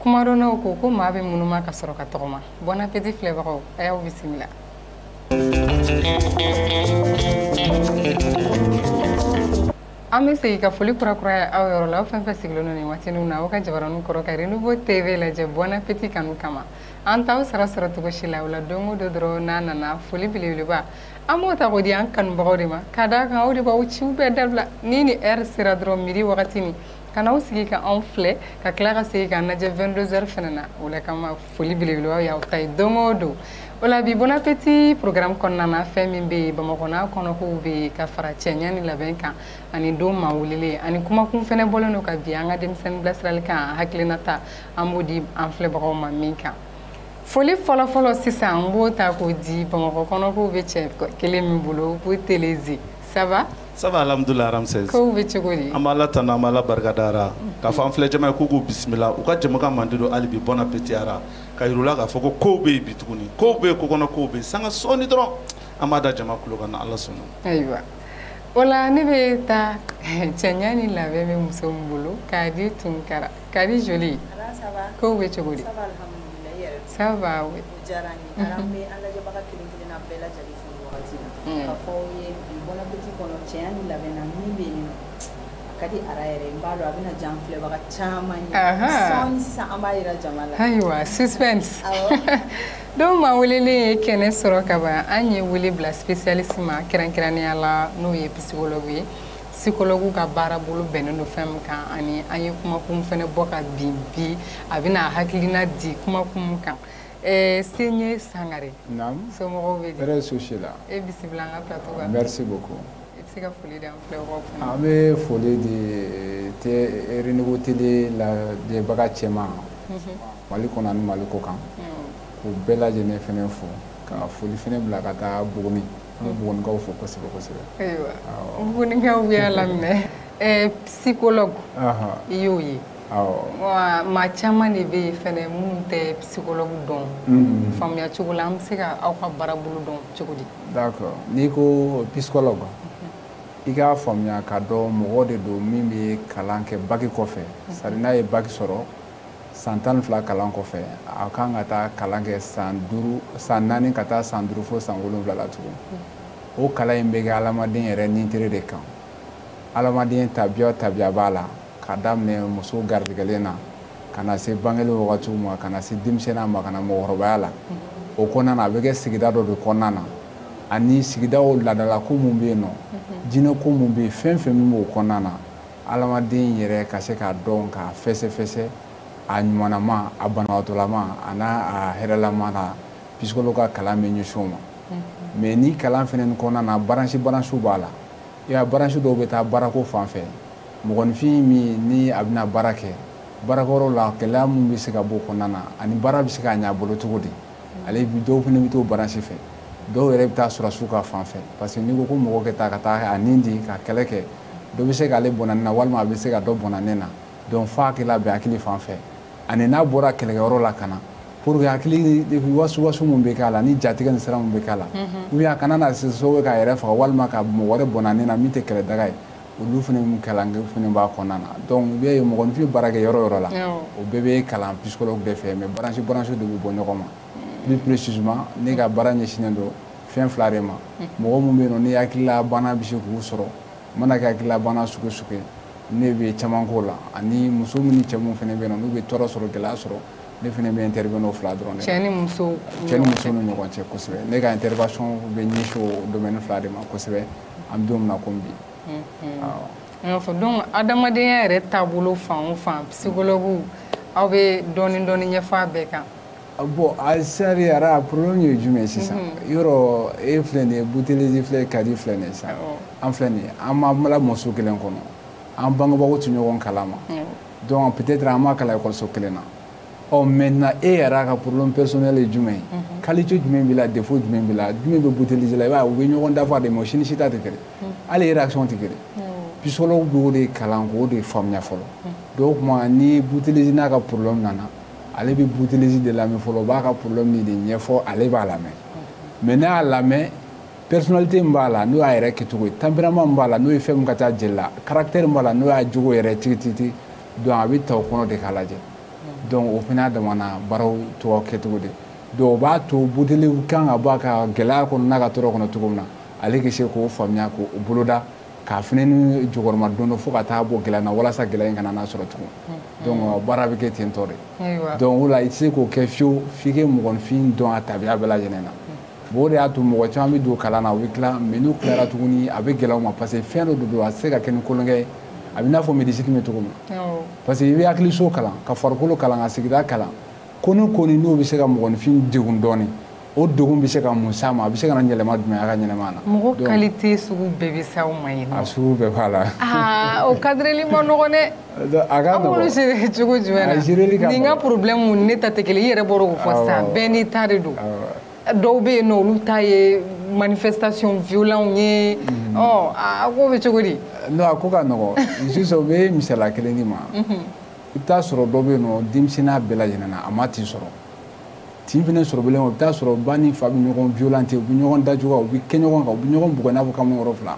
kumadɔnnaw ko ko maa bɛ munuma ka sɔrɔ ka tɔgɔma bon appétit filɛbagaw a y'aw bisimila an bɛ segin ka foli kurakuraya aw yɔrɔ la aw fɛn fɛn sigilen don nin waati ninw na aw ka jabaraniw kɔrɔ ka renouveau tv lajɛ bon appétit kanu kama an t'aw sara sɔrɔ cogo si la o la don o don dɔrɔn n'a nana foli belebeleba an b'o ta k'o di an kanubagaw de ma ka d'a kan aw de b'aw ciw bɛɛ dabila ni ni heure sera dɔrɔn midi wagati min ka n'aw sigi ka anw filɛ ka tila ka segin k'an lajɛ 22 heures fana na o la kama foli belebeleba y'aw ta ye don o don o la bi bon appétit programme kɔnɔna na fɛn min bɛ yen bamakɔ n'a kɔnɔkow bɛ yen ka fara cɛɲa ni labɛn kan ani don maa welelen ani kumakun fɛnɛ bɔlen don ka bin an ka denmisɛnnin bilasirali kan hakilinata an b'o di an filɛbagaw ma min kan foli fɔlɔfɔlɔ sisan an b'o ta k'o di bamakɔ kɔnɔkow bɛ cɛ kelen min bolo ko teleze ça va Ça va alhamdulilahi ramsès kow bɛ cogo di an b'ala tanu an b'ala barika da ara k'a fɔ an filɛ jama ye k'u k'u bisimila u ka jɛmukan mandi don hali bi bon appétit ara k'a yir'u la k'a fɔ ko kow bɛ yen bi tuguni kow bɛ yen kokɔnɔ kow bɛ yen sanga sɔɔni dɔrɔn an b'a da jama kulo kan n'ala sɔnna ayiwa o la ne bɛ taa cɛɲa ni labɛn bɛ muso min bolo kadi tunkara kadi joli kow bɛ cogo wagati la mm. k'a fɔ u ye bi bon appétit kɔnɔ cɛɲa ni labɛn na min bɛ yen nɔ a ka di ara yɛrɛ n b'a dɔn a bɛna diya an filɛbaga caman ye sɔɔni sisan an b'a yira jama la ayiwa suspense don maa welelen ye kɛnɛ sɔrɔ ka ban an ye wele bila spécialiste ma kɛrɛnkɛrɛnnenya la n'o ye psychologue ye psychologue ka baara bolo bɛnnen don fɛn min kan ani an ye kumakun fɛnɛ bɔ ka bin bi a bɛna hakilina di kumakun kan Ɛɛ se ye sangare so bɛ so si la e bisimila se ka foli an bɛ foli de tɛbugu tɛ labaga cɛ ma mali kɔnɔ ni mali ko kan ko bɛɛ lajɛlen fana fo ka foli fana bila ka taa buguni an bɛkaw fo kosɛbɛ kosɛbɛkaw bɛ lam siko i y'o ye wa maa caman de bɛ yen fana minnu tɛ psychologue dɔn mhm. faamuya cogo la an bɛ se ka aw ka baara bolo dɔn cogo di d'accord n'i ko psychologue i k'a faamuya k'a dɔn mɔgɔ de don min bɛ kalan kɛ baki kɔfɛ mhm. c'est-à-dire n'a ye baki sɔrɔ san tan ni fila kalan kɔfɛ a kan ka taa kalan kɛ san duuru san naani ka taa san duuru fo san wolonwula la tugun mhm. o kalan in bɛ kɛ adamaden yɛrɛ nin tere de kan adamaden tabiya tabiya b'a la k'a daminɛ muso garijɛgɛlen na ka na se bangeli wagatiw ma ka na se denmisɛnninya ma ka na mɔgɔkɔrɔbaya la o kɔnɔna na a bɛ kɛ sigida dɔ de kɔnɔna na ani sigidaw laadala ko mun bɛ yen nɔ jinɛ ko mun bɛ yen fɛn fɛn min b'o kɔnɔna na adamaden yɛrɛ ka se k'a dɔn k'a fɛsɛfɛsɛ a ɲumanama a banabagatɔlama a n'a a hɛrɛlama na psychologue ka kalan bɛ ɲɛsin o ma mais ni kalan fana kɔnɔna na branche branchew b'a la i y'a branche dɔw bɛ taa baarako fan fɛ mɔgɔninfin min ni a bɛna baara kɛ baarakɛyɔrɔ la gɛlɛya min bɛ se ka bɔ o kɔnɔna na ani baara bɛ se ka ɲɛ a bolo cogo di ale dɔw fana bɛ t'o branche fɛ dɔw yɛrɛ bɛ taa sɔrɔdasiw ka fan fɛ parce que n'i ko ko mɔgɔ ka taa ka taa a nin di ka kɛlɛ kɛ dɔ bɛ se k'ale bɔn'a nin na walima a bɛ se ka dɔ bɔn'a nin na donc f'a k'i labɛn hakili fan fɛ ani n'a bɔra kɛlɛkɛyɔrɔ la ka na pour que hakili wasuwasu min bɛ k'a la ni jatigɛ ni siran min bɛ k'a la ou bien a kana na se sababu ye k'a yɛrɛ faga walima ka mɔgɔ wɛrɛ bɔn'a nin na min tɛ kɛlɛdaga ye olu fana min kalan kɛ fana b'a kɔnɔna na donc i b'a ye mɔgɔninfin bɛ baara kɛ yɔrɔ yɔrɔ la o bɛɛ bɛ kalan psychologue de fɛ mais branche branche de bɛ bɔ ɲɔgɔn ma plus précisément ne ka baara ɲɛsinnen don fɛn fila de ma mɔgɔ minnu bɛ yen nɔ ni hakililabana bɛ se k'u sɔrɔ u mana kɛ hakililabana sugu sugu ye ne bɛ caman k'o la ani muso minnu ni cɛ minnu fana bɛ yen nɔ n'u bɛ tɔɔrɔ sɔrɔ gɛlɛya sɔrɔ ne fana bɛ intervenir o fila dɔrɔn de cɛ ni muso cɛ ni muso ni ɲɔgɔn cɛ kosɛbɛ ne ka intervention bɛ ɲɛsin o domaine fila de ma kosɛbɛ an bɛ don min na komi bi n y'a fɔ donc adamadenya yɛrɛ taabolo fan o fan psychologue aw bɛ dɔɔni dɔɔni ɲɛfɔ a bɛɛ kan bon a sari ara problème ye jumɛn sisan mhm. yɔrɔ e filɛ nin ye butelezi filɛ kadi filɛ nin ye sisan an filɛ nin ye an ma lamɔ so kelen kɔnɔ an bangebagaw tɛ ɲɔgɔn kalama donc peut-être an ma kalan ekɔliso kelen na ɔ oh, maintenant e eh, yɛrɛ ka problème personnel ye jumɛn ye mhm. qualité jumɛn b'i la défaut jumɛn b'i la jumɛn bɛ butelezi la i b'a ye u bɛ ɲɔgɔn dafa de mais o si ni si ta tɛ kelen mhm. hali réaction tɛ kelen mhm. psychologue b'o de kalan k'o de faamuya fɔlɔ donc o tuma ni butelezi n'a ka problème nana ale bɛ butelezi de lamɛn fɔlɔ o b'a ka problème ni de ɲɛfɔ ale b'a lamɛn mais n'a y'a lamɛn personnalité min b'a la n'o y'a yɛrɛ kɛcogo ye tempérament min b'a la n'o ye fɛn min ka ca jeli la caractère min b'a la n'o y'a jogo yɛrɛ tigitigi donc a bɛ ta o kɔnɔ de k'a lajɛ donc o fana damana baaraw tɔgɔ kɛcogo de donc o b'a to butelezi kan ka bɔ a ka gɛlɛya kɔnɔ n'a ka tɔɔrɔ kɔnɔ cogo min na ale ka se k'o faamuya k'o boloda k'a fana ni jukɔrɔmadondon fo ka taa bɔ gɛlɛya na walasa gɛlɛya in kana n'a sɔrɔ tugun donc baara bɛ kɛ ten tɔ de donc o la i tɛ se k'o kɛ fiyewu f'i ka mɔgɔninfin dɔn a tabiya bɛɛ lajɛlen na bon o de y'a to mɔgɔ caman bɛ don kalan na u bɛ tila mais n'u tilara tuguni a bɛ gɛlɛya u ma parce que fɛn dɔ de don a tɛ se ka kɛ ni kolonkɛ ye a bɛ i n'a fɔ médecine bɛ cogo min na parce que i bɛ hakiliso kalan ka farikolo kalan ka sigida kalan ko ni ko ni n'o bɛ se ka mɔgɔninfin degun dɔɔnin o degun bɛ se ka mun s'a ma a bɛ se ka na yɛlɛma jumɛn a ka ɲɛnɛmaya la mɔgɔ qualité sugu bɛɛ bɛ s'aw ma yen a sugu bɛɛ b'a la o kadirili man nɔgɔn dɛ a ka nɔgɔ an b'olu gérer cogo jumɛn na nin ka problème ne ta tɛ kelen i yɛrɛ bɔra k'o fɔ sisan bɛɛ n'i ta de don dɔw bɛ yen nɔ olu ta ye manifestation violent ye mhm. ɔ a ko bɛ cogo di. non a ko ka nɔgɔ sisan n bɛ misaliya kelen di ma mhm. i bɛ taa sɔrɔ dɔ bɛ yen nɔ denmisɛnninya bɛɛ lajɛlen na a ma tin sɔrɔ tin fana sɔrɔ bilen o bɛ taa sɔrɔ ba ni fa bɛ ɲɔgɔn violenter u bɛ ɲɔgɔn dajuguya u bɛ kɛ ɲɔgɔn kan u bɛ ɲɔgɔn bugɔ i n'a fɔ kamalenkɔrɔ fila.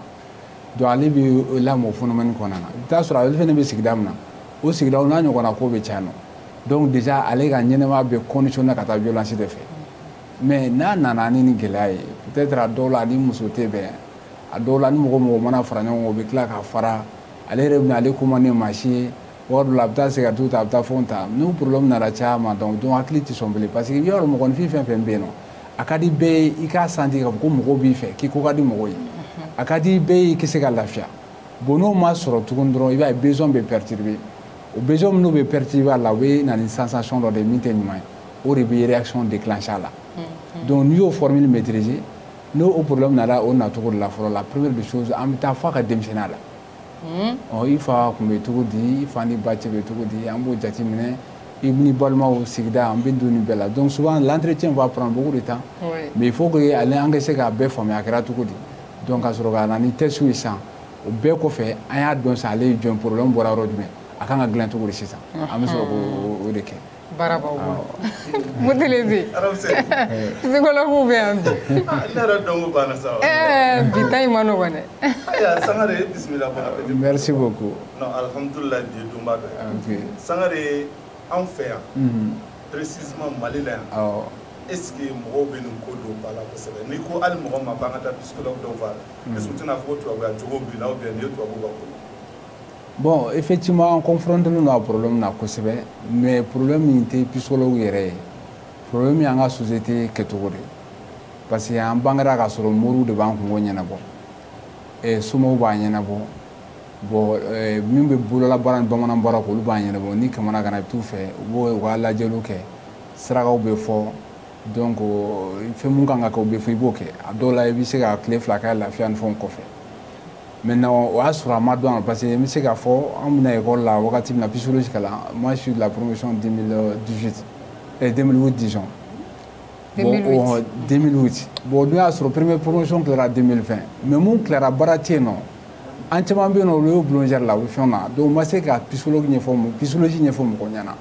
donc ale bɛ lamɔ o phénomène kɔnɔna na i bɛ taa sɔrɔ ale fana bɛ sigida min na o sigidaw n'a ɲɔgɔnna ko bɛ caya nɔ donc déjà ale ka ɲɛnɛmaya bɛ conditionner ka taa violence de fɛ mais n'a nana ni nin gɛlɛya ye peut-être a dɔw la a ni muso tɛ bɛn a dɔw la ni mɔgɔ mɔgɔ mana fara ɲɔgɔn kan o bɛ tila ka fara ale yɛrɛ bɛna ale ko man di maa si ye waati dɔ la a bɛ taa sigarɛtiw ta a bɛ taa fɛnw ta n'o problème nana caya ma donc donc hakili tɛ sɔn bilen parce que i b'a dɔn mɔgɔninfin fɛn fɛn bɛ yen nɔ a ka di bɛɛ ye i k'a sentir k'a fɔ ko mɔgɔw b'i fɛ k'i ko ka di mɔgɔw ye a ka di bɛɛ ye i k'i se ka lafiya bon n'o ma sɔrɔ tuguni dɔrɔn i b'a ye besoin bɛ perturber o besoin minnu bɛ perturber a la o bɛ na ni sensation dɔ de ye min tɛ ɲuman ye o de bɛ réaction déclencher a la donc n'i y'o formule maîtriser n'o o problème nana o nacogo de la fɔlɔ la première des choses an bɛ taa f'a ka denmisɛnninya la i fa tun bɛ cogo di i fa ni ba cɛ bɛ cogo di an b'o jateminɛ i ni balimaw sigida an bɛ don nin bɛɛ la donc souvent l'entretien va prendre beaucoup de temps mais il faut que ale an ka se k'a bɛɛ faamuya a kɛra cogo di donc ka sɔrɔ ka na ni test ye sisan o bɛɛ kɔfɛ an y'a dɔn sisan ale ye jɔn problème bɔra yɔrɔ jumɛn a kan ka dilan cogo di sisan an bɛ sɔrɔ k'o de kɛ baara b'aw bolo Mutelezi psychologue bɛ yan bi ne yɛrɛ dɔnko banna sa bi ta in ma nɔgɔn dɛ ayiwa Sangare bisimila bonne arrivée merci beaucoup non alhamdulilayi bi ye donba dɔ ye Sangare anw fɛ yan précisément Mali la yan est ce que mɔgɔw bɛ nin ko don ba la kosɛbɛ n'i ko hali mɔgɔ ma k'an ka taa psychologue dɔw fɛ a la est ce que u tɛna fɔ ko tubabuya jogo b'i la ou bien nin ye tubabuw ka ko ye bon effectivement an confrontélen don a problème na kosɛbɛ mais problème in tɛ psychologue yɛrɛ ye problème y'an ka société kɛcogo de parce que an bangera k'a sɔrɔ moriw de b'an kunko ɲɛnabɔ eh, somaw b'a ɲɛnabɔ bon eh, min bɛ bololabaara ni bamanan baara k'olu b'a ɲɛnabɔ n'i kamanaganna i bɛ t'u fɛ u b'u ka lajɛliw kɛ sarakaw bɛ fɔ donc fɛn mun kan ka kɛ o bɛ fɔ i b'o kɛ a dɔw la i bɛ se ka tile fila kɛ lafiya ni fɛnw kɔfɛ maintenant o y'a sɔrɔ a ma dɔn parce que n bɛ se k'a fɔ an bɛ na ekɔli la wagati min na psychologie kalan moi je suis de la promotion 2018 eh, 2008 disons 2008 2008 bon n'o y'a sɔrɔ première promotion tilara 2020 mais mun tilara baara tɛ yen nɔ an caman bɛ yen nɔ olu ye boulangerie la u bɛ fɛnw na donc n ma se ka psychologie ɲɛfɔ psychologie ɲɛfɔ mɔgɔ ɲɛna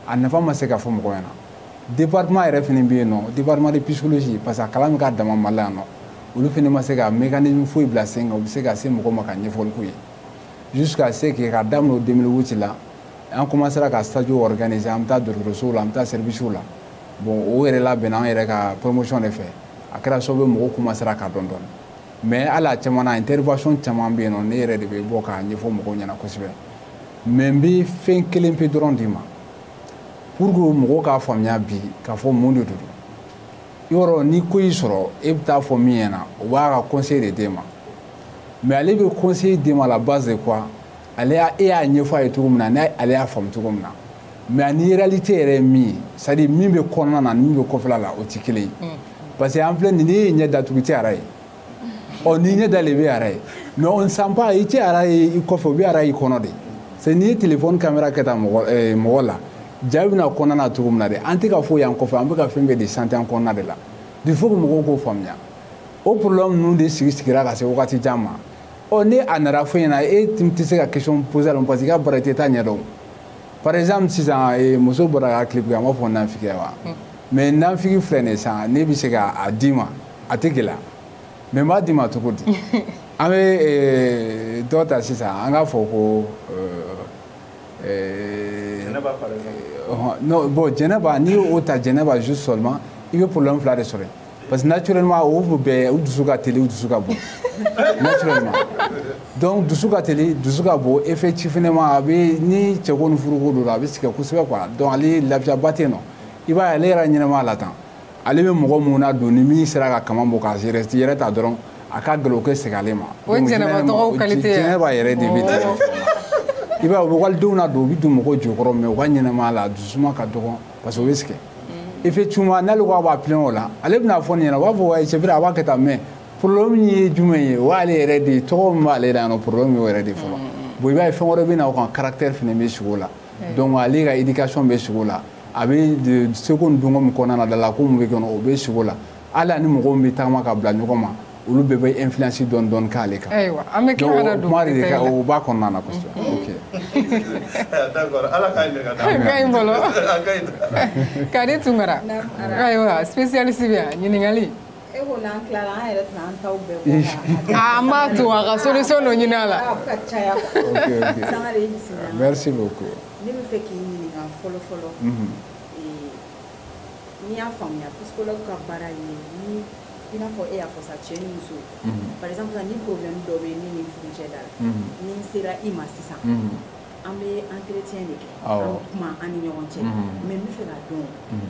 a nafa ma se ka fɔ mɔgɔ ɲɛna Département yɛrɛ fana bɛ yen nɔ département de psychologie parce que a kalan bɛ k'a dama Mali la yan nɔ olu fana ma se ka mécanisme foyi bila sen kan u bɛ se ka se mɔgɔ ma ka ɲɛfɔli k'u ye jusqu'à ce que ka daminɛ o 2008 la an commencera ka stage organiser an bɛ taa dɔgɔtɔrɔsow la an bɛ taa service la bon o yɛrɛ labɛnna an yɛrɛ ka promotion de fɛ a kɛra sababu ye mɔgɔw commencera k'a dɔn dɔɔni mais hali a caman na intervention caman bɛ yen nɔ ne yɛrɛ de bɛ bɔ k'a ɲɛfɔ mɔgɔw ɲɛna kosɛbɛ mais n bɛ fɛn kelen pe dɔrɔn d'i ma pour que mɔgɔw k'a faamuya bi k'a fɔ mun de don yɔrɔ ni ko y'i sɔrɔ e bɛ taa fɔ min ɲɛna o b'a ka conseil de d'e ma mais ale bɛ conseil d'e ma la base de quoi ale y'a e y'a ɲɛfɔ a ye cogo min na ni ale y'a faamu cogo min na mais ani réalité yɛrɛ ye min ye c'est à dire min bɛ kɔnɔna na ni min bɛ kɔfɛla la o tɛ kelen ye mm. parce que an filɛ nin n'i y'i ɲɛ datugu i tɛ ara ye. ɔ n'i ɲɛ dalen i bɛ ara ye mais on sent pas i tɛ ara ye i kɔfɛ i bɛ ara y'i kɔnɔ de c'est n'i ye téléphone caméra kɛ tan mɔgɔ eh, mɔgɔ la ja bɛna kɔnɔna na cogo min na de an tɛ ka foyi y'an kɔfɛ an bɛ ka fɛn bɛɛ de sentir an kɔnɔna de la il faut que mɔgɔw k'o faamuya o problème ninnu de sigi sigira ka se wagati jan ma ɔ ni a nana fɔ ɲɛna e tɛ se ka question poser la parce que i ka baara tɛ i t'a ɲɛdɔn par exemple sisan eh, muso bɔra ka clip kɛ an b'a fɔ nanfigi wa mais nanfigi filɛ nin ye sisan ne bɛ se k'a d'i ma a tɛ gɛlɛya mais n b'a d'i ma cogo di an bɛ eh, dɔ ta sisan an k'a fɔ ko eh, eh, bon jɛnɛba n'i y'o ta jɛnɛba juste seulement i bɛ problème fila de sɔrɔ yen parce que naturellement o bɛɛ u dusu ka teli u dusu ka bon naturellement donc dusu ka teli dusu ka bon effectivement a bɛ ni cɛko ni furuko don a bɛ sɛgɛn kosɛbɛ quoi donc ale lafiyaba tɛ yen nɔ i b'a ye ale yɛrɛ ɲɛnama la tan ale bɛ mɔgɔ minnu ladon ni min sera ka kaman bɔ k'a yɛrɛ yɛrɛ ta dɔrɔn a ka gɛlɛn o ka segin ale ma o jɛnɛba tɔgɔw qualité jɛnɛba yɛrɛ de bɛ ten i b'a ye u bɛ walidenw ladon u bɛ don mɔgɔw jukɔrɔ mais u ka ɲɛnamaya la dusuma ka dɔgɔn parce que o bɛ sɛgɛn mm. effectivement n'ale ko a b'a plaint o la ale bɛna fɔ nin ɲɛna u b'a fɔ wayi c'est vrai a b'a kɛ tan mais problème ye jumɛn ye o y'ale yɛrɛ de ye tɔgɔ min b'ale la yan nɔ problème y'o yɛrɛ de fɔlɔ mm, mm, bon i b'a ye fɛn wɛrɛ bɛ na o kan caractère fana bɛ sigi o la donc ale ka éducation bɛ sigi o la a bɛ seko ni dɔnko min kɔnɔna na dala ko min bɛ kɔnɔ o bɛ sigi o la hali a ni mɔgɔ min bɛ tagama ka bila ɲɔgɔn ma olu bɛɛ bɛ influence dɔɔni dɔɔni k'ale kan ayiwa an bɛ tila ka na don kuma de ka o b'a kɔnɔna na kosɛbɛ ok d'accord ala k'a ɲɛ ka da a ka ɲi bolo a ka ɲi kadi tunkara ayiwa spécialiste bɛ yan ɲininkali E ko n'an tilala an yɛrɛ tɛna an taw bɛɛ bɔ ka- Ah, an b'a to a ka solution dɔ ɲini a la Ah, a bɛ ka caya quoi. Ok, ok. Sangare i bisimila. Merci beaucoup. ne b'a fɛ k'i ɲininka fɔlɔ fɔlɔ Mhm. ee, ni n y'a faamuya psychologue ka baara ye ni i n'a fɔ e y'a fɔ sa cɛ ni muso Mhm. par exemple sa ni problème dɔ bɛ ne ni n furucɛ da la Mhm. ni n sera i ma sisan Mhm. an bɛ entretien de kɛ Awɔ. an bɛ kuma an ni ɲɔgɔn cɛ Mhm. mais n b'a fɛ k'a dɔn Mhm.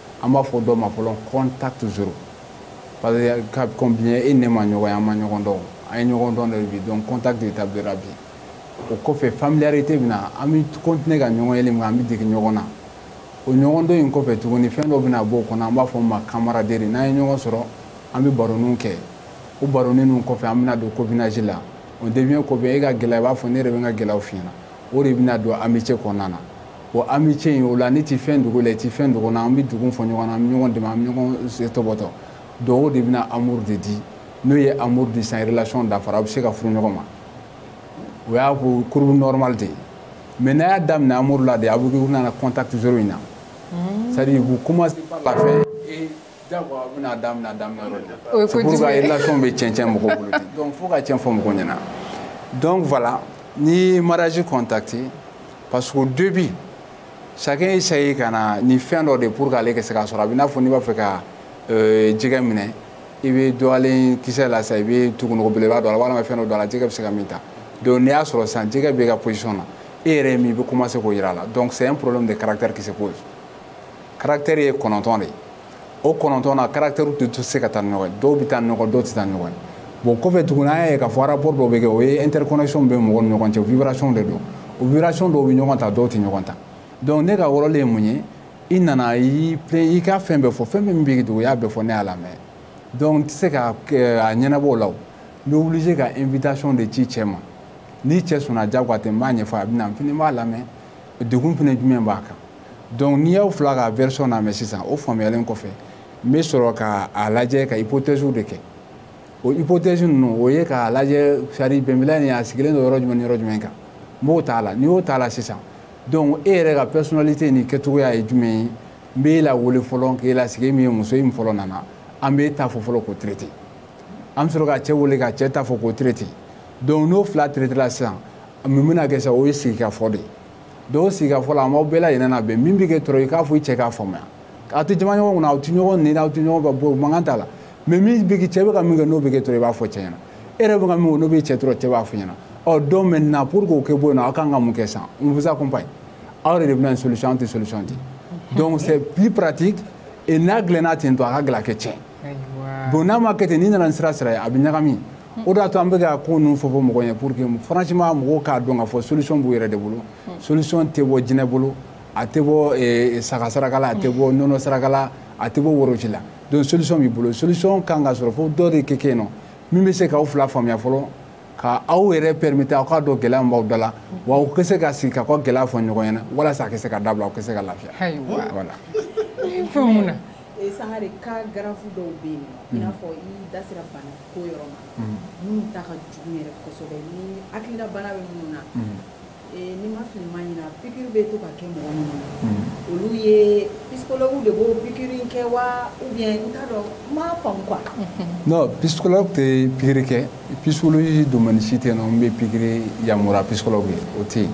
an b'a fɔ dɔ ma fɔlɔ contact zéro parce que ka kɔn bi ɲɛ e ni ne ma ɲɔgɔn ye an ma ɲɔgɔn dɔn an ye ɲɔgɔn dɔn de bi donc contact établira bi o kɔfɛ familiarité bɛ na an bɛ continuer ka ɲɔgɔn yeli min an bɛ dege ɲɔgɔn na o ɲɔgɔn dɔn in kɔfɛ tuguni fɛn dɔ bɛna bɔ o kɔnɔ an b'a fɔ o ma camaraderie n'an ye ɲɔgɔn sɔrɔ an bɛ baroninw kɛ o baronin ninnu kɔfɛ an bɛna don copinage la on devient copain e ka gɛlɛya i b'a fɔ ne yɛrɛ bɛ n ka gɛlɛyaw f'i ɲɛna o de bɛna don amitié kɔnɔna na o amitié in o la ne tɛ fɛn dogo i la i tɛ fɛn dogo n na an bɛ degun fɔ ɲɔgɔn na an bɛ ɲɔgɔn dɛmɛ an bɛ ɲɔgɔn tɔbɔtɔ donc o de bɛna amour de di n'o ye amour di sa relation dafara a bɛ se ka furu ɲɔgɔn ma o y'a ko courbe normale de ye mais n'a y'a daminɛ amour la de aw bɛna na contact zéro in na c'est à dire vous commencez par la fin Jagoya u bɛna daminɛ a daminɛ yɔrɔ de la, o ye kojugu ye, c'est pour ça relation bɛ tiɲɛ tiɲɛ mɔgɔw bolo ten donc fo ka tiɲɛ fɔ mɔgɔw ɲɛna donc voilà ni mariage contracté parce qu'au début chacun essaye ka na ni fɛn dɔ de pour que ale ka se k'a sɔrɔ a bɛ n'a fɔ n'i b'a fɛ ka euh, jɛgɛ minɛ i bɛ dɔgɔlen kisɛ la sisan i bɛ tugunogo belebeleba don a la walima fɛn dɔ don a la jɛgɛ bɛ se ka min ta donc n'i y'a sɔrɔ sisan jɛgɛ b'e ka possession na e yɛrɛ ye min i bɛ commencer k'o jira a la donc c'est un problème de caractère qui se pose caractère ye kɔnɔntɔn de ye o kɔnɔntɔn na caractèrew tɛ se ka taa ni ɲɔgɔn ye dɔw bɛ taa ni ɲɔgɔn dɔw tɛ taa ni ɲɔgɔn ye bon kɔfɛ tuguni an y'a ye k'a fɔ rapport dɔw bɛ kɛ o ye interconnexion bɛ mɔgɔw ni ɲɔgɔn cɛ vibration de don o vibration dɔw bɛ ɲɔgɔn ta dɔw tɛ ɲɔgɔn ta donc ne ka rôle ye mun ye i nana i y'i plaindre i ka fɛn bɛɛ fɔ fɛn min b'i degun i y'a bɛɛ fɔ ne y'a lamɛn donc n tɛ se ka a ɲɛnabɔ o la o n bɛ obligé ka invitation de ci cɛ ma ni cɛ sɔnna diyagoya tɛ n b'a ɲɛfɔ a bɛ na n fana b'a lamɛn degun fana jumɛn b'a kan donc ni n y'aw fila ka version lamɛn sisan o faamuyalen kɔfɛ n bɛ sɔrɔ ka a lajɛ ka hypothèse de kɛ o hypothèse ninnu o ye k'a lajɛ c'est à dire bɛnbaliya nin a sigilen don yɔrɔ jumɛn ni yɔrɔ jumɛn kan n b'o t'a la ni n y'o t'a la sisan donc e yɛrɛ ka personnalité ni kɛcogoya ye jumɛn ye n b'e lawele fɔlɔ k'e lasigi min ye muso ye min fɔlɔ nana an b'e ta fɔ fɔlɔ k'o traité an bɛ sɔrɔ ka cɛ wele ka cɛ ta fɔ k'o traité donc n'o fila traitéla sisan mun bɛna kɛ sisan o ye sigikafɔ de ye donc sigikafɔ la an b'aw bɛɛ lajɛlen labɛn min bɛ k'e tɔɔrɔ i k'a fɔ i cɛ k'a faamuya aw tɛ jaman ɲɔgɔn kunna aw tɛ ɲɔgɔn neni aw tɛ ɲɔgɔn bugɔ mankan t'a la mais min bɛ kɛ cɛ bɛ ka min kɛ n'o bɛ k'e tɔɔrɔ i b'a fɔ cɛ ɲɛna e yɛrɛ bɛ ka min kɛ n'o bɛ cɛ tɔɔrɔ cɛ b'a fɔ i ɲɛna ɔ donc maintenant pour que o ka bɔ yen nɔ aw ka kan ka mun kɛ sisan on vous accompagne aw yɛrɛ de bɛna solution an tɛ solution di donc c'est plus pratique et n'a dilanna ten dɔrɔn a ka gɛlɛn a ka tiɲɛ bon n'a ma kɛ ten n'i nana ni sira sira ye a bɛ ɲagami o de y'a to an bɛ ka ko ninnu fɔ fɔ mɔgɔw ɲɛ pour que franchement mɔgɔw k'a dɔn k'a fɔ solution b'u yɛrɛ de bolo hmm. solution tɛ bɔ jinɛ bolo a tɛ bɔ eh, saga saraka la a tɛ bɔ nɔnɔ saraka la a tɛ bɔ woroji la donc solution b'i bolo solution kan ka sɔrɔ fo dɔ de ka kɛ yen nɔ min bɛ se k'aw fila faamuya fɔlɔ ka aw yɛrɛ permettre aw k'a dɔn gɛlɛya min b'aw da la wa aw ka se ka sigi k'aw ka gɛlɛya fɔ ɲɔgɔn ɲɛna walasa a ka se ka dabila aw ka se ka lafiya voilà Eh, Sangare cas graves dɔw bɛ yen i n'a fɔ i da sera bana ko yɔrɔ ma minnu ta ka jugu yɛrɛ kosɛbɛ ni hakilila bana bɛ minnu na eh, ni ma fili ma ɲina pikiri bɛ to ka kɛ mɔgɔ minnu na olu ye psychologue de b'o pikiri kɛ wa ou bien n t'a dɔn n m'a faamu quoi. non psychologue tɛ pikiri kɛ psychologie domaine si tɛ yen nɔ min bɛ pikiri yamaruya psychologue ye o tɛ yen.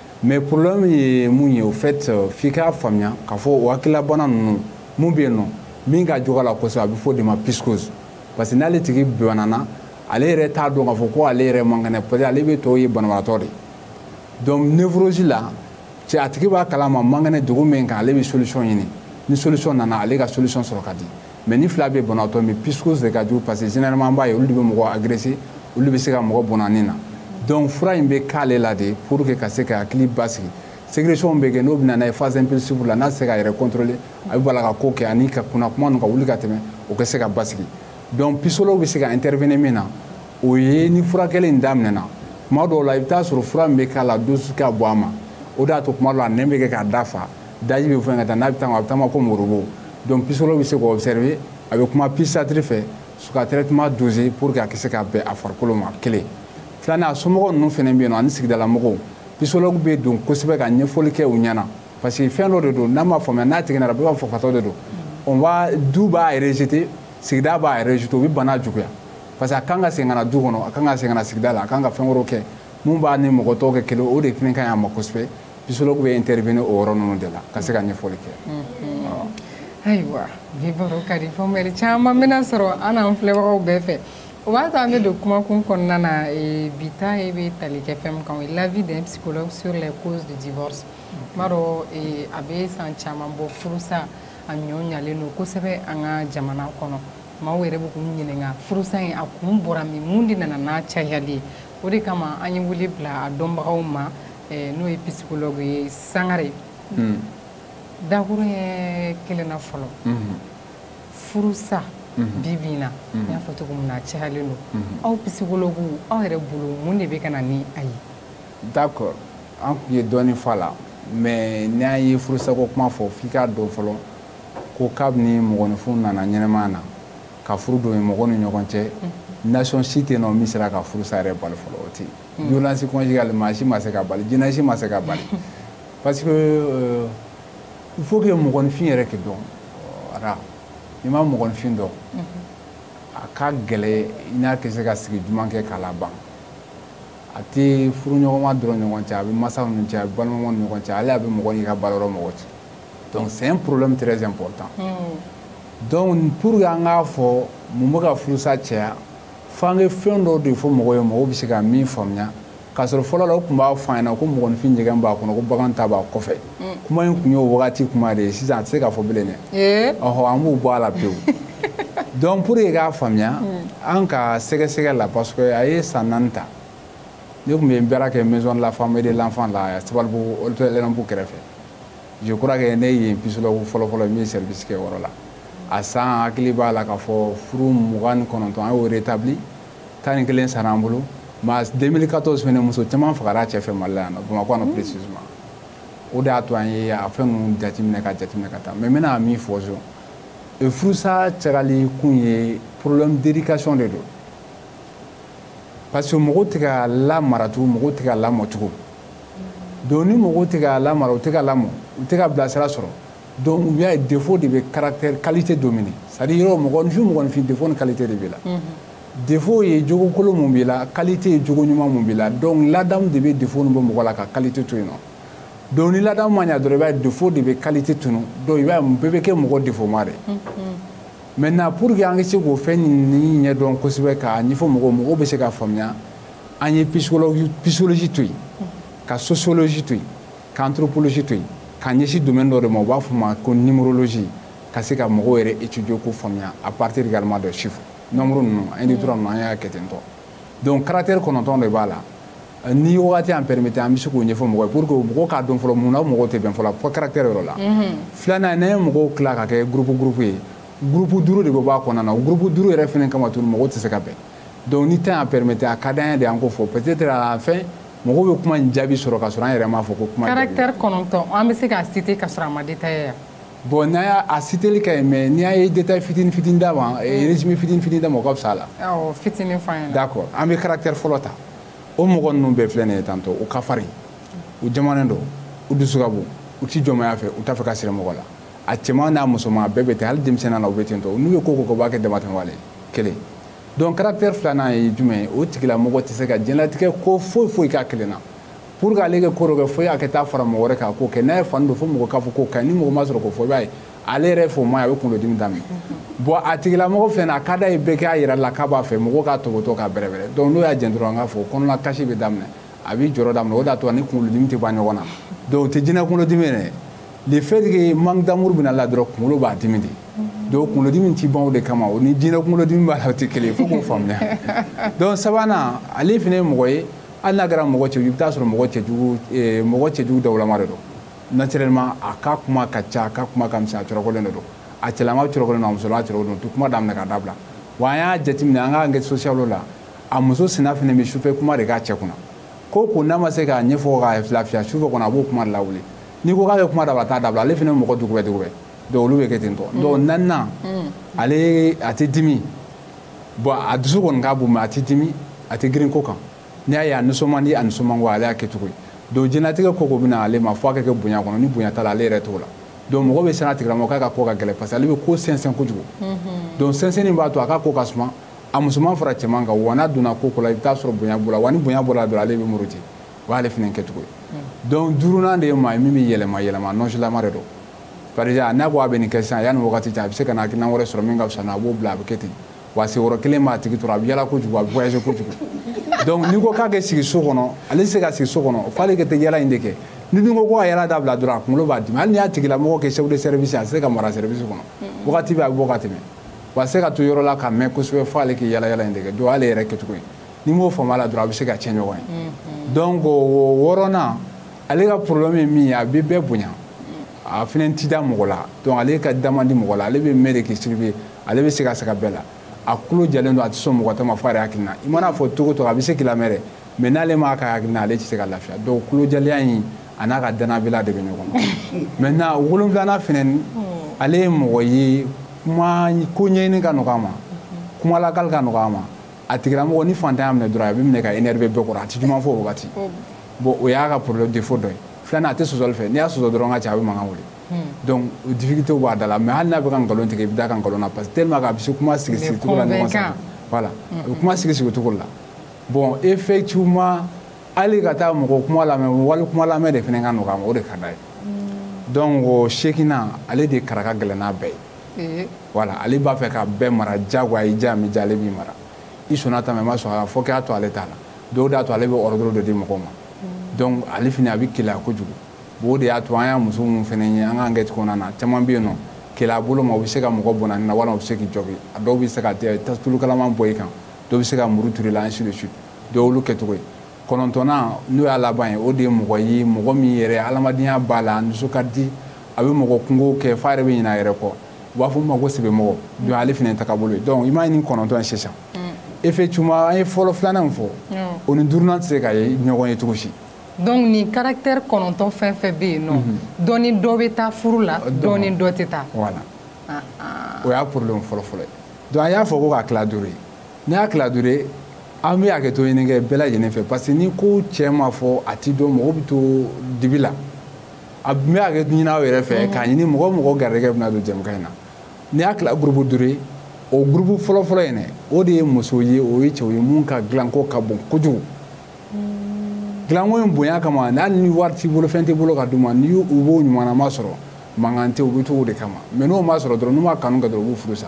mais problème ye mun ye au fait euh, f'i k'a faamuya k'a fɔ o hakililabana ninnu mun bɛ yen nɔ min ka jugu a la kosɛbɛ a bɛ fɔ o de ma psychose parce que n'ale tigi banana ale yɛrɛ t'a dɔn k'a fɔ ko ale yɛrɛ man kɛnɛ parce que ale bɛ tɔw ye banabagatɔ de donc névrose la cɛ a tigi b'a kalama man kɛnɛ degun min kan ale bɛ solution ɲini ni solution nana ale ka solution sɔrɔ ka di mais nin fila bɛɛ banabaatɔ mais psychose de ka jugu parce que généralement an b'a ye olu de bɛ mɔgɔ agresser olu bɛ se ka mɔgɔ bɔnɛ a ni na donc fura in bɛ k'ale la de pour que ka se k'a hakili basigi sécrétion bɛ kɛ n'o bɛ na n'a ye phase impulsive la n'a se k'a yɛrɛ contrôler a bɛ bala ka ko kɛ ani ka kunna kuma ninnu ka wuli ka tɛmɛ o ka se ka basigi donc psychologue bɛ se ka intervenir min na o ye ni furakɛli in daminɛna tuma dɔw la i bɛ taa sɔrɔ fura min bɛ k'a la dose ka bon a ma o de y'a to tuma dɔw la nɛn bɛ kɛ k'a da fa daji bɛ fɛn ka taa n'a bɛ taa a bɛ taama comme robot donc psychologue bɛ se k'o observer a bɛ kuma psychiatre fɛ s'u ka traitement doser pour que a ka se ka bɛn a farikolo ma kelen filanan a somɔgɔw ninnu fana bɛ yen nɔ ani sigidala mɔgɔw psychologue bɛ don kosɛbɛ ka ɲɛfɔli kɛ u ɲɛna parce que fɛn dɔ de don n'a ma faamuya n'a tigi nara bɛɛ b'a fɔ fatɔ de don on va du b'a rejeter sigida b'a rejeter o bɛ bana juguya parce que a kan ka segin ka na du kɔnɔ a kan ka segin ka na sigida la a kan ka fɛn wɛrɛw kɛ mun b'a ni mɔgɔ tɔw kɛ kelen o de fana ka ɲi a ma kosɛbɛ psychologue bɛ intervenir o yɔrɔ ninnu de la ka se ka ɲɛfɔli kɛ ayiwa bi baro ka di faamuyali caman bɛna sɔrɔ an n'an filɛbagaw bɛɛ fɛ o b'a to an bɛ don kumakun kɔnɔna na bi ta in bɛ tali kɛ fɛn min kan o ye l'avis d'un psychologue sur les causes du divorce n b'a dɔn a bɛ san caman bɔ furusa a ɲɔ ɲalen don kosɛbɛ an ka jamana kɔnɔ maaw yɛrɛ bɛ k'u ɲininka furusa in a kun bɔra min mun de nana n'a cayali ye o de kama an ye wele bila a dɔnbagaw ma n'o ye psychologue ye sangare dakuru ye kelenna fɔlɔ furusa bi bi in na n y'a fɔ cogo min na a cayalen don aw psychologue aw yɛrɛ bolo mun de bɛ ka na ni a ye d'accord an tun ye dɔɔnin fɔ a la mais n'an ye furusako kuma fɔ f'i k'a dɔn fɔlɔ ko kabini mɔgɔninfin nana ɲɛnɛmaya na ka furu don mɔgɔw ni ɲɔgɔn cɛ nation si tɛ yen nɔ min sera ka furusa yɛrɛ bali fɔlɔ o tɛ yen violence conjugale maa si ma se k'a bali jinɛ si ma se k'a bali parce que euh, il faut que mɔgɔninfin yɛrɛ k'i dɔn ara n'i ma mɔgɔninfin dɔn a ka gɛlɛ i n'a tɛ se ka sigi duman kɛ k'a laban a tɛ furuɲɔgɔnma dɔrɔn ɲɔgɔn cɛ a bɛ masaw ni cɛ a bɛ balimamaw ni ɲɔgɔn cɛ ale a bɛ mɔgɔ n'i ka baarayɔrɔ mɔgɔ cɛ donc c'est un problème très important donc pour que an k'a fɔ mun bɛ ka furusa caya fo an ka fɛn dɔw de fɔ mɔgɔw ye mɔgɔw bɛ se ka min faamuya k'a sɔrɔ fɔlɔ la u tun b'a fɔ an ɲɛna ko mɔgɔninfin ɲɛgɛn b'a kɔnɔ ko bagan ta b'a kɔfɛ mm. kuma in tun y'o wagati kuma de ye sisan a tɛ se ka fɔ bilen dɛ eh? ɔhɔ an b'u bɔ a la pewu donc pour que k'a faamuya mm. an ka sɛgɛsɛgɛ la parce que a ye san naani ta ne tun bɛ baara kɛ maison de la femme et de l'enfant la Sabalibugu Olympique kɛrɛfɛ je crois que ne ye psychologue fɔlɔfɔlɔ min ye service kɛ o yɔrɔ la a san n hakili b'a la k'a fɔ furu mugan ni kɔnɔntɔn an y'o rétabli tan ni kelen sara an bolo mais 2014 fɛnɛ muso caman fagara a cɛ fɛ mali la yan nɔ bamakɔ yan nɔ précisément o de y'a to an ye a fɛn ninnu jateminɛ ka jateminɛ ka taa mais n bɛna min fɔ so e furusa cayali kun ye problème d'éducation de don parce que mɔgɔw tɛ ka lamara tugun mɔgɔw tɛ ka lamɔ tugun donc ni mɔgɔw tɛ ka lamara u tɛ ka lamɔ u tɛ ka bilasira sɔrɔ donc i b'a ye défaut de bɛ caractère qualité dominer c'est-à-dire yɔrɔ mɔgɔninfin mɔgɔninfin défaut ni qualité de b'i la mhm. défaut ye jogo kolon mun b'i la qualité ye jogo ɲuman mun b'i la donc ladamu de bɛ défaut nin bɔ mɔgɔ la ka qualité to yen nɔ donc ni ladamu ma ɲa dɔrɔn i b'a ye défaut de bɛ qualité tunu donc i b'a ye bɛɛ bɛ kɛ mɔgɔ défautma de mhm. maintenant pour que an ka se k'o fɛn nin ɲɛdɔn kosɛbɛ k'a ɲɛfɔ mɔgɔw mɔgɔw bɛ se k'a faamuya an ye psychologie to yen ka sociologie to yen ka anthropologie to yen ka ɲɛsin domaine dɔ de ma u b'a fɔ a ma ko numérologie ka se ka mɔgɔw yɛrɛ étudier k'u faamuya à partir également de chiffres nombre ninnu un deux trois ninnu an y'a kɛ ten tɔ donc caractère kɔnɔntɔn de b'a la euh, ni wagati an permettre an bɛ se k'o ɲɛfɔ mɔgɔ ye pour que mɔgɔw k'a dɔn fɔlɔ mun na mɔgɔw tɛ bɛn fɔlɔ fo caractère yɔrɔ la mhm. filanan n'an ye mɔgɔw tila ka kɛ groupe groupe ye groupe duuru de bɛ bɔ a kɔnɔna na o groupe duuru yɛrɛ fana kama tuguni mɔgɔw tɛ se ka bɛn donc ni temps y'a permettre a ka d'an ye de an k'o fɔ peut-être à la fin mɔgɔw bɛ kuma in jaabi sɔrɔ ka sɔrɔ an yɛrɛ m'a fɔ ko kuma caractère kɔnɔntɔn an bɛ se k'a citer ka sɔrɔ a ma détailler yan bon n'a y'a a citeli ka ɲi mais n'i y'a ye détail fitini fitini d'a ma eh, résumé fitini fitini d'a ma o ka fisa a la awɔ fitini fɔ an ɲɛna d'accord an bɛ caractère fɔlɔ ta o mɔgɔ ninnu bɛɛ filɛ nin ye tantɔ u ka farin u jamanen don u dusu ka bon u ti jɔnmaya fɛ u t'a fɛ ka siri mɔgɔ la a cɛman n'a musoman bɛɛ bɛ ten hali denmisɛnnin na u bɛ ten tɔ n'u ye ko ko kɛ u b'a kɛ damatɛmɛwale kelen donc caractère filanan ye jumɛn ye o tigilamɔgɔ tɛ se ka diɲɛlatigɛ ko foyi foyi k'a kelen na pour que ale kɛ ko dɔ kɛ fo a ka taa fara mɔgɔ wɛrɛ k'a ko kɛ n'a ye fani don fo mɔgɔ k'a fɔ k'o ka ɲi ni mɔgɔ ma sɔrɔ k'o fɔ i b'a ye ale yɛrɛ fɔ ma a bɛ kunkolodimi daminɛ bon a tigilamɔgɔ filɛ nin a ka d'a ye bɛɛ k'a yir'a la k'a b'a fɛ mɔgɔ k'a tɔpɔtɔ k'a bɛrɛbɛrɛ donc n'o y'a jɛn dɔrɔn an k'a fɔ kɔnɔna kasi bɛ daminɛ a b'i jɔrɔ daminɛ o de y'a to a ni kunkolodimi tɛ ban ɲɔgɔn na donc o tɛ jinɛ kunkolodimi yɛrɛ le fait que manque d'amour bɛna la dɔrɔn kunkolo b'a dimi de donc kunkolodimi ti ban o de kama o ni jinɛ kunkolodimi b'a la o tɛ kelen ye fo k'o faamuya donc sabanan ale fana ye mɔgɔ ye hali n'a kɛra mɔgɔ cɛjugu i bɛ taa sɔrɔ mɔgɔ cɛjugu eh, mɔgɔ cɛjugu dawulama de don naturellement a ka kuma ka ca a ka kuma ka misɛn a cɔrɔkɔlen de don a cɛlama cɔrɔkɔlen don a musolama cɔrɔkɔlen don ti kuma daminɛ k'a dabila wa an y'a jateminɛ an ka enquête sociale la a muso sina fana bɛ sufɛ kuma de k'a cɛ kunna ko ko n'a ma se k'a ɲɛfɔ k'a lafiya sufɛ kɔnɔ a b'o kuma de lawuli n'i ko k'a bɛ kuma dabila a t'a dabila ale fana ye mɔgɔ dugubɛ dugubɛ donc olu bɛ kɛ ten tɔ mm. donc naaninan mm. ale a tɛ dimi bon a dusu kɔni ka bon mais a tɛ dimi a tɛ girin ko kan n'i y'a ye a nisɔn man di a nisɔn man go ale y'a kɛ cogo ye donc diɲɛlatigɛ ko ko bɛ na ale ma fo a ka kɛ bonya kɔnɔ ni bonya t'a la ale yɛrɛ t'o la donc mɔgɔ bɛ siran a tigilamɔgɔ k'a ka ko ka gɛlɛn parce que ale bɛ ko sɛnsɛn kojugu mm-hmm. donc sɛnsɛnni b'a to a ka ko ka suma a musoman fara cɛman kan wa n'a donna ko ko la i bɛ taa sɔrɔ bonya b'o la wa ni bonya bɔra dɔrɔn ale bɛ muruti o y'ale fana kɛcogo ye hmm. donc duurunan de ye maa ye min bɛ yɛlɛma yɛlɛma nɔnsilama de don par exemple n'a ko a bɛ nin kɛ sisan yanni wagati jan a bɛ se ka na hakilina wɛrɛ sɔrɔ min ka fisa n'a a b'o bila a bɛ kɛ ten wa sigiyɔrɔ kelen b'a tigi tɔrɔ a bɛ yala kojugu a bɛ voyager kojugu donc n'i ko k'a kɛ sigi so kɔnɔ ale tɛ se ka sigi so kɔnɔ f'ale ka taa yala in de kɛ n'i dun ko ko a yala dabila dɔrɔn a kunkolo b'a dimi hali n'i y'a tigilamɔgɔ kɛ chef de service a tɛ se ka mara service kɔnɔ hmm. wagati bɛɛ a bɛ bɔ ka tɛmɛ wa a tɛ se ka to yɔrɔ la ka mɛn kosɛbɛ f'ale k'i yala yala in de kɛ donc ale yɛrɛ kɛcogo ye n'i m'o faamu a la dɔrɔn a bɛ se ka cɛn ɲɔgɔn ye mm-hmm. donc o wɔɔrɔnan ale ka problème ye min ye a bɛ bɛɛ bonya a fana ti da mɔgɔ la donc ale ka da man di mɔgɔ la ale bɛ mɛn de k'i surveiller ale bɛ se ka sɛgɛn bɛɛ la a kulo jɛlen don a tɛ sɔn mɔgɔ ta ma fo a yɛrɛ hakilina i mana fɔ cogo o cogo a bɛ se k'i lamɛn dɛ mais n'ale m'a ka hakilina ale tɛ se ka lafiya donc kulojɛlenya in a n'a ka dannabaliya de bɛ ɲɔgɔn na maintenant wolonwulanan fana hmm. ale ye mɔgɔ ye kuma ko ɲɛɲini ka nɔgɔ a ma kumalakali ka nɔgɔ a ma a tigilamɔgɔ ni fantanya y'a minɛ dɔrɔn a bɛ minɛ ka énerver bɛɛ kɔrɔ a tɛ ɲuman fɔ o wagati bon o y'a ka problème défaut dɔ ye filanan a tɛ sɔsɔli fɛ n'i y'a sɔsɔ dɔrɔn ka ca a bɛ mankan wuli donc difficulté b'a da la mais hali n'a bɛ ka nkalon tigɛ i bɛ d'a ka nkalon na parce que tellement que a bɛ se kuma sigi sigi cogo la ɲɔgɔn sanfɛ voilà a bɛ kuma sigi sigi cogo la bon effectivement hali ka taa mɔgɔ kuma lamɛn wali kuma lamɛn de fana ka nɔgɔ a ma o de ka d'a ye donc o seginnan ale de kara ka gɛlɛn n'a bɛɛ ye voilà ale b'a fɛ ka bɛɛ mara jagoya i ja mi ja ale b'i mara i sɔnna ta ma i ma sɔn a la fo k'a to ale ta la dɔw d'a to ale bɛ ordre dɔ di mɔgɔw ma donc ale fana a bɛ keleya kojugu bon o de y'a to an y'a muso minnu fana ye an ka enquête kɔnɔna na caman bɛ yen nɔ keleya bolo ma u bɛ se ka mɔgɔ bɔnɛ a ni na walima u bɛ se k'i jogin a dɔw bɛ se ka tulu kalaman bɔn i kan dɔw bɛ se ka muru turu i la ainsi de suite dɔw y'olu kɛcogo ye kɔnɔntɔnnan n'o y'a laban ye o de ye mɔgɔ ye mɔgɔ min yɛrɛ adamadenya b'a la dusu ka di a bɛ mɔgɔ kunko kɛ f'a yɛrɛ bɛ ɲinɛ a yɛrɛ kɔ u b'a fɔ ma ko sɛbɛmɔgɔ donc ale fana ye tagabolo ye donc i m'a ye nin kɔnɔntɔn ye sisan effectivement an ye fɔlɔ filanan min fɔ o ni duurunan tɛ se ka ye ɲɔgɔn ye cogo si donc nin caractère kɔnɔntɔn fɛn fɛn bɛ yen nɔ dɔ ni dɔ bɛ taa furu la dɔ ni dɔ tɛ taa voilà o y'a problème fɔlɔfɔlɔ ye donc an y'a fɔ ko k'a tila duuru ye n'i y'a tila duuru ye an bɛ hakɛto ɲini kɛ bɛɛ lajɛlen fɛ parce que ni ko jɛ ma fɔ a ti dɔn mɔgɔ bɛ to dibi la a bɛ hakɛto ɲini aw yɛrɛ fɛ k'a ɲini mɔgɔ mɔgɔ garijɛgɛ bɛna don jɛmukan in na n'i y'a tila groupe duuru ye o groupe fɔlɔfɔlɔ in dɛ o de ye musow ye o ye cɛw ye minnu ka dilanko ka bon kojugu dilanko in bonya kama hali ni wari t'i bolo fɛn t'i bolo ka d'u ma ni u b'o ɲumanlama sɔrɔ mankan tɛ u bɛ to o de kama mais n'o ma sɔrɔ dɔrɔn n'u ma kanu kɛ dɔrɔn u b'u furu sa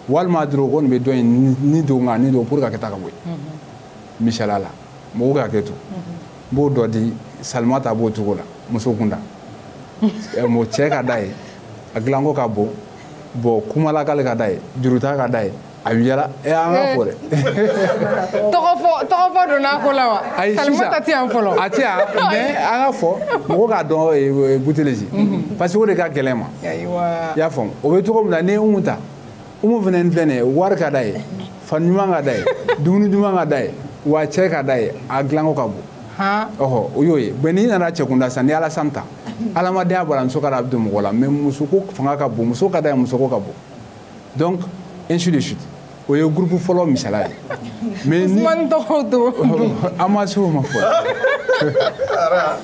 walima dɔrɔn o kɔni bɛ dɔn in ni don nka ni don pour ka kɛ ta ka bɔ yen mhm. misala la mɔgɔw ka hakɛto mhm. n b'o dɔ di salimata b'o cogo la muso kunda eh, mɔgɔ cɛ ka d'a ye a dilanko ka bon bon kumalakali ka d'a ye juruta ka d'a ye a bɛ yaala ɛ eh, an ka fɔ dɛ. tɔgɔ fɔ tɔgɔ fɔ donna ko la wa. ayi sisan salimata tɛ yan fɔlɔ. a tɛ yan mais an ka fɔ mɔgɔ k'a dɔn eh, buteleji parce que o de ka gɛlɛn ma. i y'a faamu o bɛ cogo min na n'i ye umu ta umu fana ni filɛ nin ye wari ka d'a ye fani ɲuman ka d'a ye dumuni ɲuman ka d'a ye wa cɛ ka d'a ye a dilanko ka bon ɔhɔ o y'o ye mais n'i nana cɛkunda sisan ni alasani ta adamadenya b'a la muso ka da a bɛ don mɔgɔ la mais musoko fanga ka bon muso ka d'a ye musoko ka bon donc ainsi de suite o ye groupe fɔlɔ misala ye mais ni usumani tɔgɔw to an ma se o ma fɔlɔ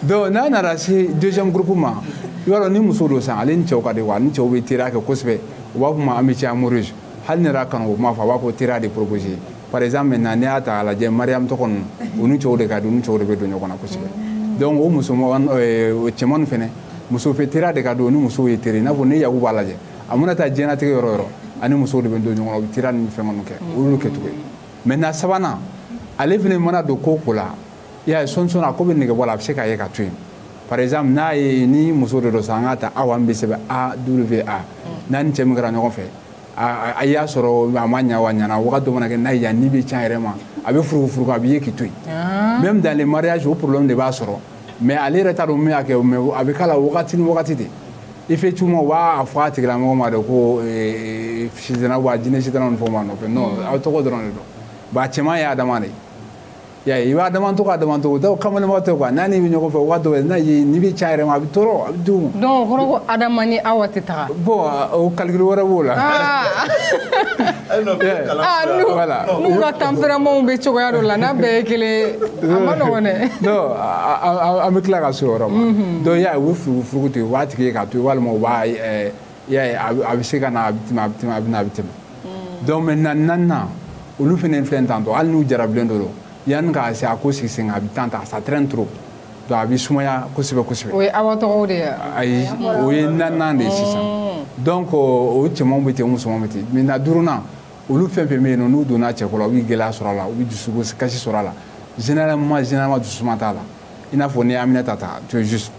donc n'a nana se deuxième groupe ma i b'a dɔn ni muso don sisan ale ni cɛw ka di wa ni cɛw bɛ teriya kɛ kosɛbɛ u b'a fɔ ma amitié amoureuse hali n'i yɛrɛ kanu kuma fɔ a b'a fɔ teriya de proposer par exemple maintenant n'i y'a ta k'a lajɛ mariyamu tɔgɔ ninnu u ni cɛw de ka di u ni cɛw de bɛ don ɲɔgɔn na kosɛbɛ donc o muso cɛman fɛnɛ muso fɛ teriya de ka di o ni musow ye teri i n'a fɔ n'i ye yakuba lajɛ a mana taa diɲɛnatigɛ yɔrɔ yɔrɔ ani musow de bɛ don ɲɔgɔn na u bɛ teriya ni fɛn minnu kɛ o y'olu kɛcogo ye maintenant sabanan ale fana mana don ko ko la i y'a ye sɔɔni sɔɔni a ko bɛ nege bɔ a la a bɛ se k'a ye k'a to yen par exemple n'a ye ni muso de don sa an k'a ta awa min bɛ sɛbɛn a w a n'a ni cɛ min kɛra ɲɔgɔn fɛ a y'a sɔrɔ a ma ɲa wa ɲana wagati dɔ mana kɛ n'a y'a ni bɛ can yɛrɛ ma a bɛ furugufurugu a b'i ye k'i to yen ah. même dans les mariages o problème de b'a sɔrɔ mais ale yɛrɛ t'a dɔn min y'a kɛ mais a bɛ k'a la wagati ni wagati de effectivement u b'a fɔ a tigilamɔgɔ ma de ko sitana wa jinɛ sitana ni fɛnw b'a nɔfɛ non aw tɔgɔ dɔrɔn de don bon a cɛman ye adama de ye y'a ye adama tɔgɔ adama tɔgɔw kamalenba tɛ quoi n'a n'i bɛ ɲɔgɔn fɛ waati dɔw n'a ye n'i bɛ ca yɛrɛ ma a bɛ tɔɔrɔ a bɛ d'u ma. donc o kɔrɔ ko adama ni awa tɛ taga. bon o calcul wɛrɛ b'o la. aa n'u ka tempéramentw bɛ cogoya dɔ la n'a bɛɛ ye kelen ye a man nɔgɔn dɛ. non an bɛ tila ka se o yɔrɔ ma. donc i y'a ye u bɛ furugufurugu ten u b'a tigi ye k'a to yen walima u b'a ɛɛ y'a ye a bɛ se ka na a bɛ tɛmɛ a bɛ tɛmɛ a bɛ na a bɛ tɛmɛ hmm. donc maintenant naaninan olu fana filɛ tantôt hali n'u jarabilen don yanni k'a se a ko sigi sen kan a bɛ temps ta ça traîne trop donc a bɛ sumaya kosɛbɛ kosɛbɛ. o ye awa tɔgɔw de ye. ayi o ye naaninan de ye sisan hmm. donc o cɛmanw bɛ ten musomanw bɛ ten maintenant duurunan olu fɛn fɛn bɛ yen nɔ n'u donna cɛko la u bɛ gɛlɛya sɔrɔ a la u bɛ dusukasi sɔrɔ a la généralement généralement dususuma t'a la. i n'a fɔ n'i ye aminata ta tu es juste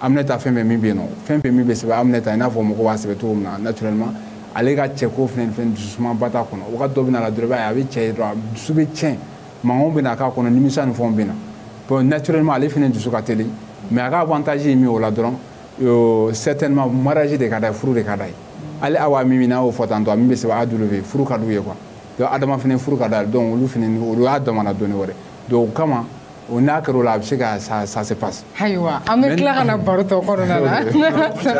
aminata fɛn fɛn min bɛ yen nɔ fɛn fɛn min bɛ sɛbɛn aminata i n'a fɔ mɔgɔw b'a sɛbɛn cogo min na naturellement ale ka cɛko fɛn fɛn dususumaba t'a kɔnɔ wagati dɔ bɛ na a la dɔrɔn i b'a ye a bɛ cɛ ye dɔrɔn a dusu bɛ tiɲɛ mankanw bɛ na k'a kɔnɔ nimisa ni fɛnw bɛ na bon naturellement ale fana dusu ka teli mais a ka avantage ye min ye o la dɔrɔn euh, certainement mariage de ka d'a ye furu de ka d'a ye hali awa min min n'a y'o fɔ tantôt a min bɛ sɛbɛn a w a furu ka d'u ye quoi donc adama fana furu ka d'a ye donc olu fana olu y'a damana dɔnni wɛrɛ donc o kama o n'a kɛra o la a bɛ se ka ça se passe ayiwa an bɛ tila ka na baro tɔ kɔnɔna na